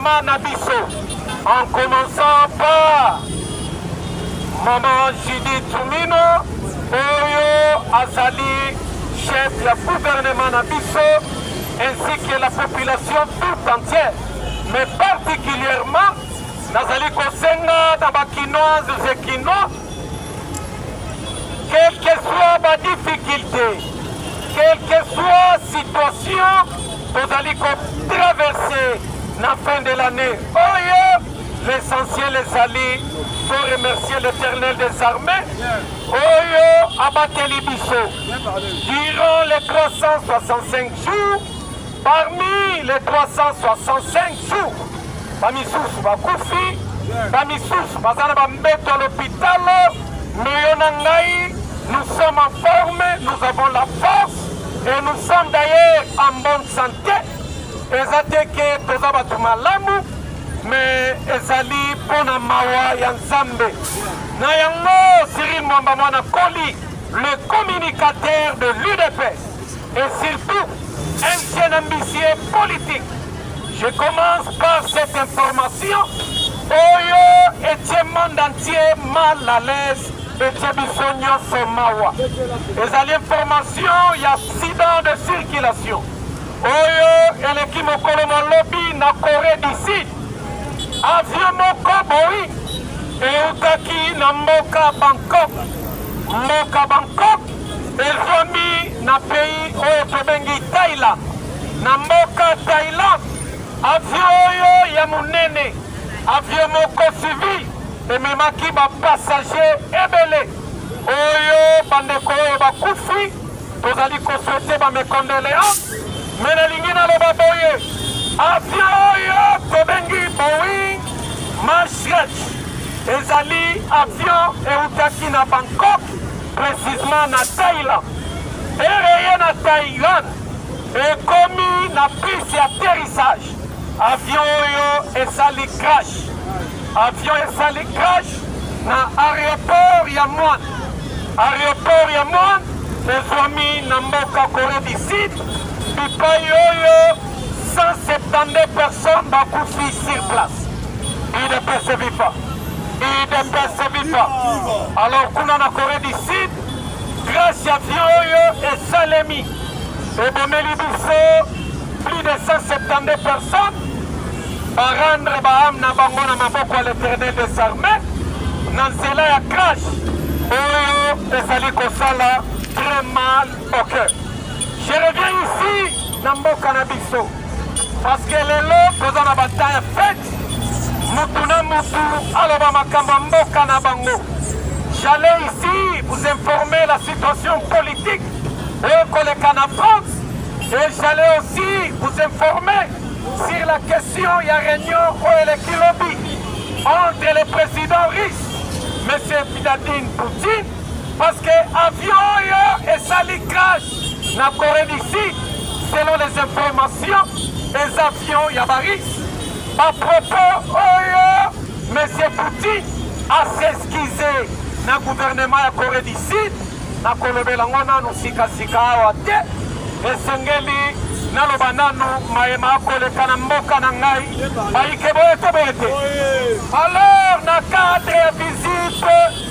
Mama na biso en commençant par maman Judith Tumino oyo azali chef ya gouvernement na biso ainsi que la population tout entière mais particulièrement nazali kosenga na bakinoises et kinois Quelle que soit ma difficulté, quelle que soit situation tozali kotraverse na fin de l'année oyo, l'essentiel ezali to remercier l'éternel des armées oyo abateli biso durant les 365 jours Parmi les 365 jours, bamisusu bakufi, bamisusu baza na bambeto ya lopitalo, meyo na ngai, nous sommes en forme, nous avons la force et nous sommes d'ailleurs en bonne santé. Eza te ke toza bato malamu, mais ezali mpo na mawa ya Nzambe. Na yango Cyril Mwamba Mwana Koli, le communicateur de l'UDPS et surtout un jeune ambitieux politique. Je commence par cette information. Oyo etie monde entier mal à l'aise etie biso nyonso mawa. Ezali information ya accident de circulation oyo eleki mokolo mwa lobi na Corée du Sud. Avion moko boyi eutaki na mboka Bangkok. Mboka Bangkok Ezwami na pays oyo tobengi Thailand, na mboka Thailand. Avion oyo ya monene, avion moko civil ememaki ba passagers ebele oyo bandeko oyo bakufi tozali koswete ba mes condoléances, mais nalingi naloba boye avion oyo tobengi Boeing Max ezali avion eutaki na Bangkok precisement na Thailand ereye na Thailand ekomi na piste ya atterrissage avion oyo esali crash avion esali crash na aéroport ya Muan aéroport ya Muan ezwami na mboka Corée du Sud bipai oyo 172 personnes bakufi sur place idps viva udps viva alors kuna na corée du sud grâce ya avion oyo esalemi ebomeli biso plus de 172 personnes barendre baame na bango na maboko ya l'éternel des armées na nzela ya crash oyo ezali kosala très mal au cœur je reviens ici na mboka na biso Parce que lelo toza na bata ya fete, mutu na mutu aloba makambo ya mboka na bango. J'allais ici vous informer la situation politique et koleka na France et j'allais aussi vous informer sur la question ya réunion oyo eleki lobi entre le président russe Monsieur Vladimir Poutine parce que avion oyo esali crash Na Coree du Sud, selon les informations, les avions ya ba Russes ba propos oyo Monsieur Poutine a s'excuser na gouvernement ya Coree du Sud na kolobela ngo nanu sika sika awa te esengeli naloba nanu mayema akoleka na mboka na ngai bayike boye to boye te alors na cadre ya visite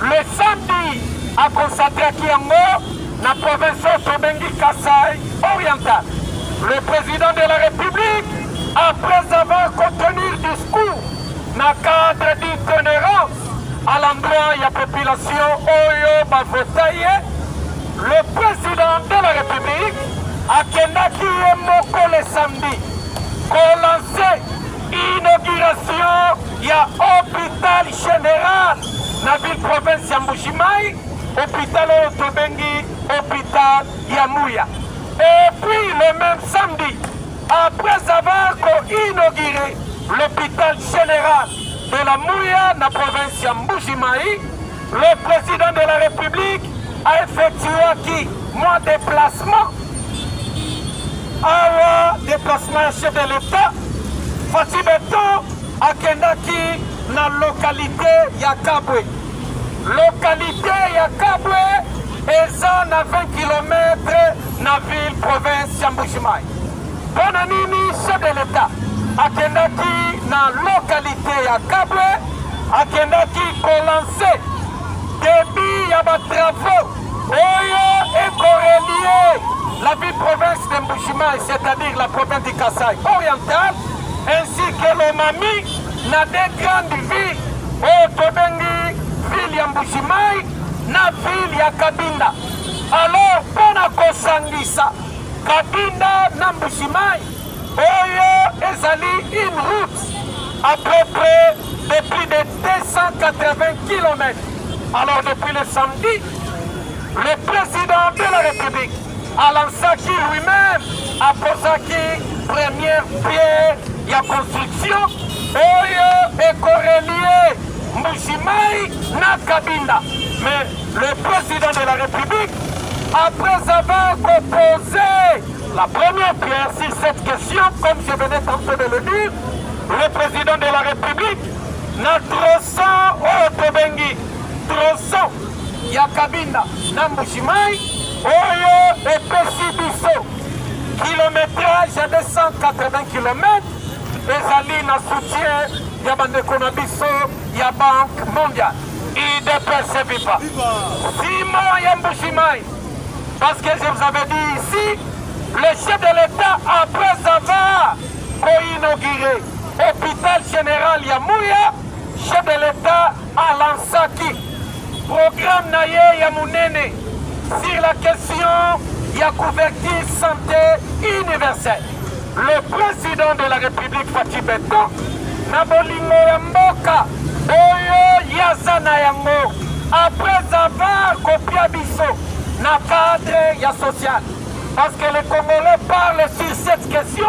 Le samedi, akosatraki yango na province oyo tobengi Kasai oriental. Le président de la République, après avoir contenu discours na cadre d'itinérance à l'endroit ya population oyo bavota ye, le président de la République akendaki ye moko le samedi kolanse inauguration ya hôpital général Na ville province ya Mbujimayi, hôpital oyo tobengi hôpital ya Muya. Et puis le même samedi, après avoir inauguré l'hôpital général de la Mouya, la province de Mbujimaï, le président de la République a effectué qui mon déplacement awa déplacement ya chef de l'état fatsi beton akendaki na localité ya Kabwe. Localité ya Kabwe eza na 20 km na ville province ya Mbujimayi. Mpona nini chef de l'État akendaki na localité ya Kabwe, akendaki kolanse debut ya batravaux oyo ekorelie la ville province de Mbujimayi, c'est-à-dire la province du Kasaï oriental ainsi que l'Omami na de grande ville oyo tobengi ville ya Mbujimayi na ville ya Kabinda. Alors mpo na kosangisa Kabinda na Mbujimayi, oyo ezali une route à peu près de plus de 280 km. Alors depuis le samedi, le président de la République Alansaki lui-meme aposaki première pierre ya construction oyo ekorelie Mbujimayi na Kabinda. Mais le président de la République, après avoir proposé la première pierre sur cette question, comme je venais tantôt de le dire, le président de la République na troson oyo tobengi troson ya Kabinda na Mbujimayi oyo epesi biso kilometrage ya 280 km ezali na soutien ya bandeko na biso ya banque mondiale idps viva sima ya mbushimai parce que je vous avais dit ici le chef de l'état après avoir koinauguré hôpital général ya muya chef de l'état alansaki programme na ye ya monene sur la question ya couverture santé universelle. Le président de la République Fatih Beton na bolingo ya mboka oyo yaza na yango après avoir kopia biso na cadre ya social parce que les Congolais parlent sur cette question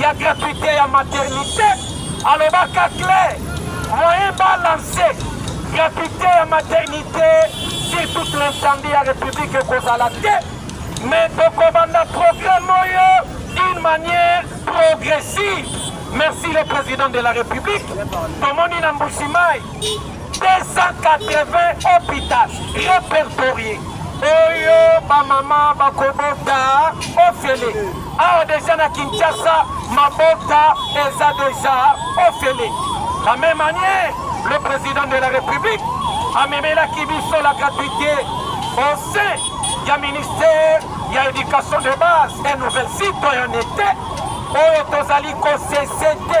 ya gratuite ya maternite alobaka clair moyen balance gratuite ya maternite sur toute l'ensemble ya république ekozala te mais tokobanda programme oyo d'une manière progressive merci le président de la république tomoni na mbushimai 280 hôpital répertorié oyo bamama bakobota ofele awa deja na kinshasa mabota eza deja ofele la même année le président de la république amemelaki biso la gratuité au sein ya ministère ya éducation de base et nouvelle citoyenneté oyo tozali kosese te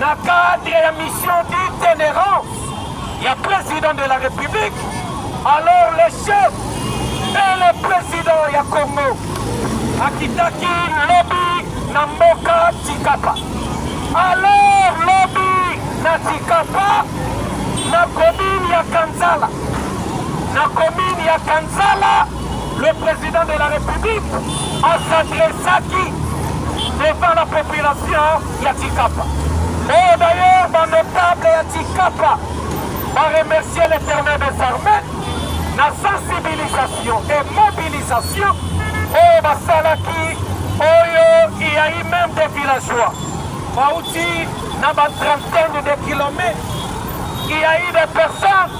Na cadre ya mission d'itinérance ya président de la République, alors le chef et le président ya Congo akitaki lobi na mboka Tshikapa. Alors lobi na Tshikapa na commune ya Kansala, na commune ya Kansala Le president de la Republique a s'adressaki devant la population ya Tikapa. Et d'ailleurs, ba notable ya Tikapa ba remercier l'éternel des armées na sensibilisation et mobilisation oyo basalaki oyo il y a eu même des villageois bauti na ba trentaine de kilomètres il y a eu des personnes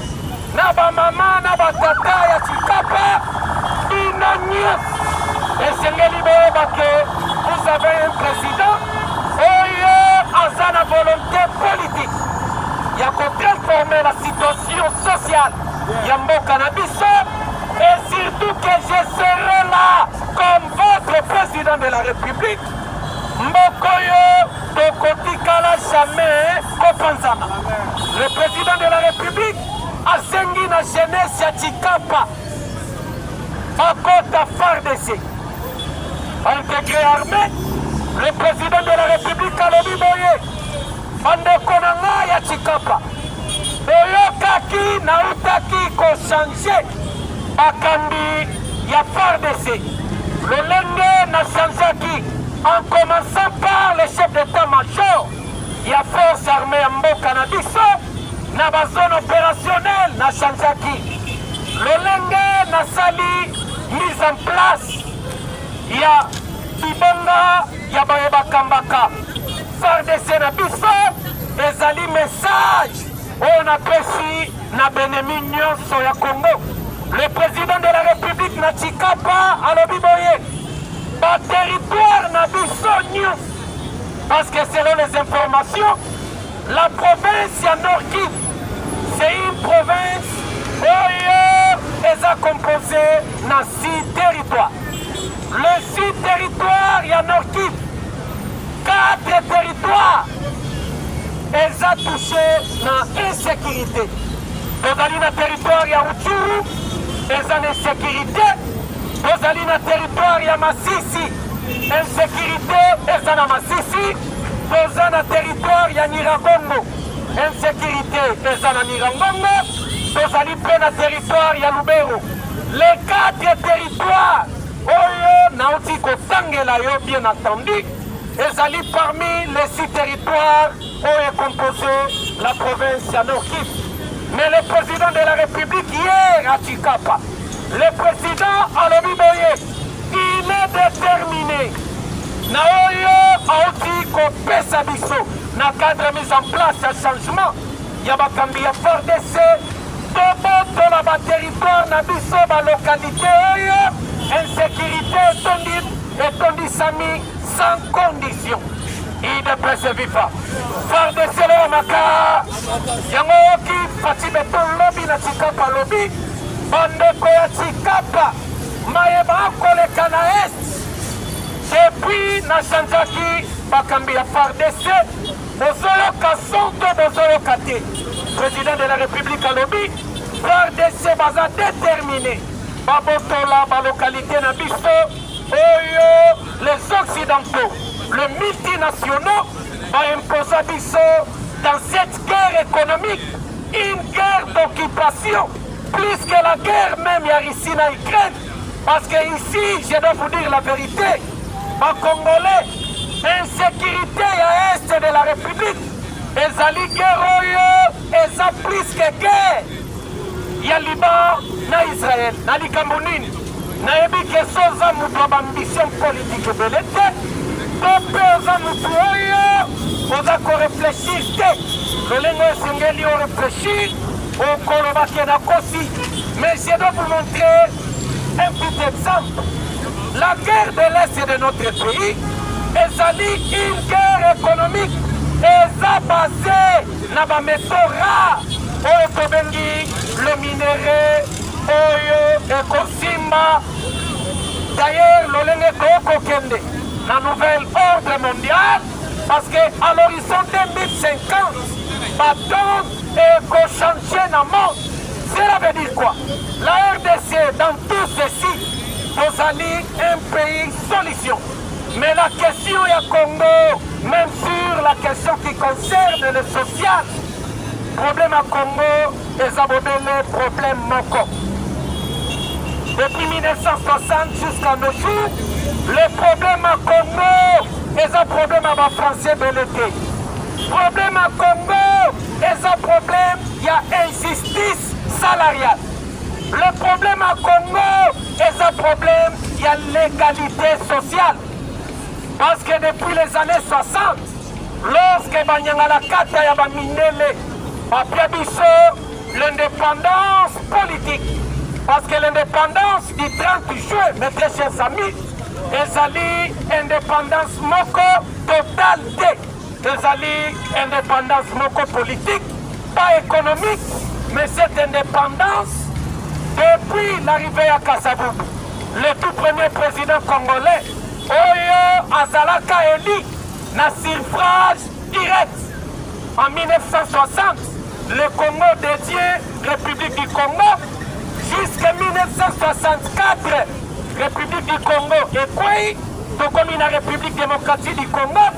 na ba mama na ba tata ya Tshikapa, bino nyonso esengeli boyeba ke vous avez un président oyo aza na volonté politique ya ko transforme la situation sociale ya mboka na biso et surtout que je serai là comme votre président de la République Mbokoyo tokotikala jamais kopanzana. Le président de la République asengi na jeunesse ya Tshikapa bakota FARDC intégré armée. Le président de la République alobi boye Bandeko na nga ya Tshikapa, boyokaki nautaki kochange bakambi ya FARDC lolenge na changeaki en commençant par le chef d'état major ya force armée ya mboka na biso na bazone opérationnel na changeaki lolenge nasali mise en place ya bibonga ya baye bakambaka fardc na biso ezali message oyo napesi na benemi nyonso ya congo le président de la république na chikapa alobi boye baterritoire na biso nyonso parce que selon les informations la province ya norki c'est une province oyo eza composée na six territoires Le sud territoire ya Nord-Kivu, quatre territoires eza touche na insécurité. Tozali na territoire ya Rutshuru eza na insécurité, tozali na territoire ya Masisi insécurité eza na Masisi, toza na territoire ya Nyiragongo insécurité eza na Nyiragongo, tozali mpe na territoire ya Lubero les quatre territoires Toi oyo nauti kotangela yo bien entendu ezali parmi les six territoires oyo ecomposé la province ya Nord Kivu mais le président de la République hier à Tshikapa le président alobi boye il est déterminé na oyo auti kopesa biso na cadre mise en place ya changement ya bakambi ya fardc tobotola bateritware na biso balokalite oyo insecurite etondi etondisami sans condition idps viva fardc loya maka yango oki fati beto lobi na tikapa lobi bandeko ya tikapa maye bakoleka na est depuis nachanjaki bakambi ya fardc Bozoyoka son to bozoyoka te, president de la republique alobi FARDC baza determine babotola balocalité na biso oyo les occidentaux le multinationaux baimposa biso dans cette guerre économique une guerre d'occupation plus que la guerre même ya Russie na Ukraine Parce que ici, je dois vous dire la vérité, ba Congolais, insécurité ya est de la République, ezali guerre oyo eza plus que guerre ya Liban na Israël. Na likambo nini? Nayebi ke so oza moto ya bambition politique ebele te, to mpe oza moto oyo oza koreflechir te lolenge esengeli oreflechir Okoloba ke nakosi, mais je dois vous montrer un petit exemple. La guerre de l'Est de notre pays ezali une guerre économique eza base na bameteau rare oyo tobengi le minerai oyo ekosimba d'ailleurs lolenge tokokende na nouvelle ordre mondial parce que à l'horizon 2050 bato et qu'on change na monde cela veut dire quoi la rdc dans tout ceci tozali un pays solution mais la question ya congo même sur la question qui concerne le social problème ya congo eza bobele problème moko depuis 1960 jusqu'à nos jours le problème ya congo eza problème ya bafrançais bele te Problème ya Congo eza problème ya injustice salariale. Le problème ya Congo eza problème ya l'égalité sociale. Parce que depuis les années 60, lorsque Banyangalakata ya Bamindele bapia biso l'indépendance politique, parce que l'indépendance du 30 juin, mes très chers amis, ezali indépendance moko totale te Ezali independance moko politique, pas économique, mais cette indépendance, depuis l'arrivée à Kassabou, le tout premier président congolais, Oyo Azalaka élu na suffrage direct en 1960, le Congo dédié, République du Congo, jusqu'à 1964, République du Congo et quoi, la République démocratique du Congo,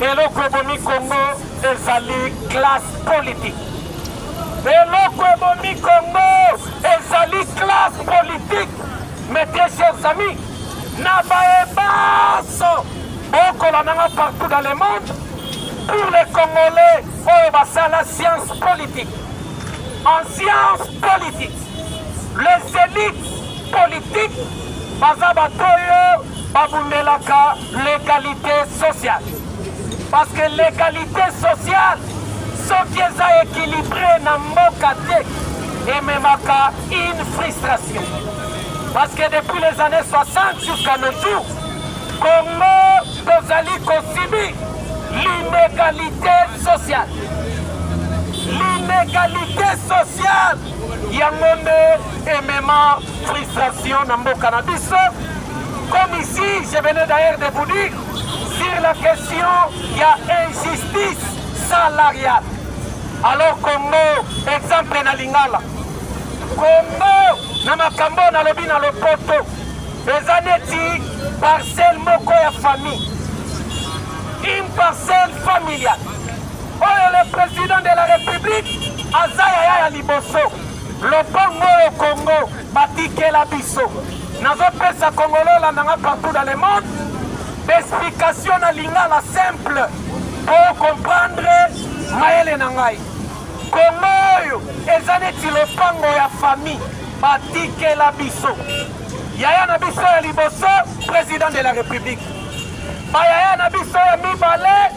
Eloko ebomi Congo ezali classe politique. Eloko ebomi Congo ezali classe politique. Mes très chers amis, na baye baso bokola nanga partout dans le monde pour les Congolais oyo basala science politique. En science politique, les élites politiques baza bato oyo babundelaka legalite sociale parce que legalite sociale soki eza équilibré na mboka te ememaka une frustration parce que depuis les années 60 jusqu'à nos jours congo tozali kosibi l'inégalité sociale l'inégalité sociale Yango nde emema frustration na mboka na biso. Comme ici, je venais d'ailleurs de vous dire sur la question ya injustice salariale. Alors Congo, exemple na Lingala. Congo na makambo nalobi na lopoto eza neti parcelle moko ya famille une parcelle familiale Oyo le president de la republique aza yaya ya liboso. Lopango oyo Congo batikela biso. Nazopesa Congolais olanda nga partout dans le monde d'explication na lingala simple po comprendre mayele na ngai. Congo oyo eza neti lopango ya famille batikela biso. Yaya na biso ya liboso president de la republique. Bayaya na biso ya mibale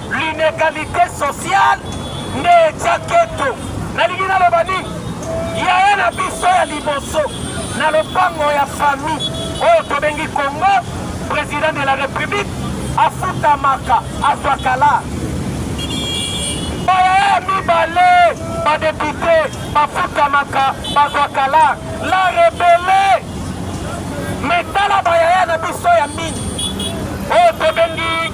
L'inegalite sociale nde etya keto. Nalingi naloba nini? Yaya na biso ya liboso na lopango ya famille oyo tobengi Congo, president de la République afutamaka azwaka la bayaya mibale badepute bafutamaka bazwaka la la rebele metala bayaya na biso ya mingi oyo tobengi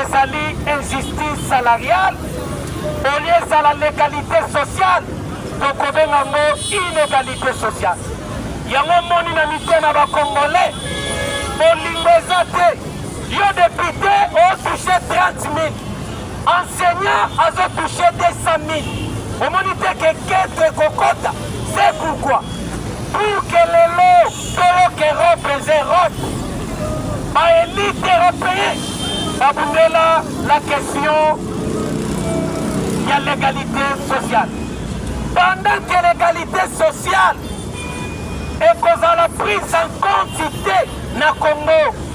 Ezali injustice salariale au lieu ezala l'egalite sociale tokobenga yango inegalite sociale. Yango moni na mite na bakongole bolingo eza te. Yo depute otouche 30 000 enseignant azotouche 200 000 omoni te ke kete kokota c'est pourquoi pour que lelo Solo que Europe est Europe. Ba elite européen babundela la question ya l'égalité sociale. Pendant que l'égalité sociale ekozala prise en compte te na Congo.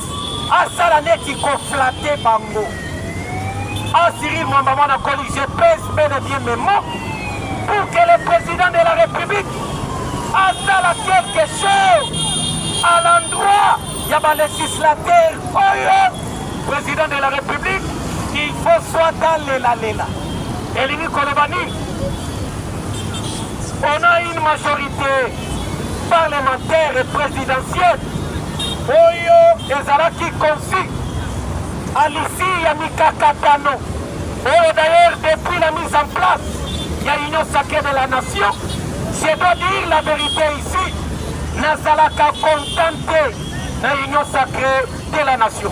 asala neti koflate bango asiri mwamba mwana koli je pèse bel et bien mes mots pour que le président de la république asala quelque chose à l'endroit ya balegislateur oyo président de la république il faut soit alelalela elingi koloba nini On a une majorité parlementaire et présidentielle oyo ezalaki confi à l'issue ya mikakatano oyo d'ailleurs depuis la mise en place ya union sacrée de la nation je dois dire la vérité ici nazalaka contenté na union sacrée de la nation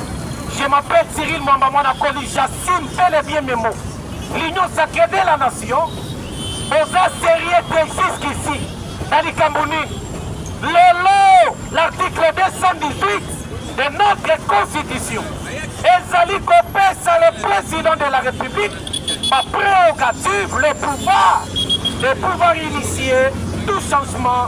je m'appelle cyril mwamba mwana koli j'assume bel et bien mes mots L'union sacrée de la nation boza serieux te jusqu'ici na likambo nini lelo l'article 218 de notre constitution ezali kopesa le président de la république ba prérogative le pouvoir de pouvoir initier tout changement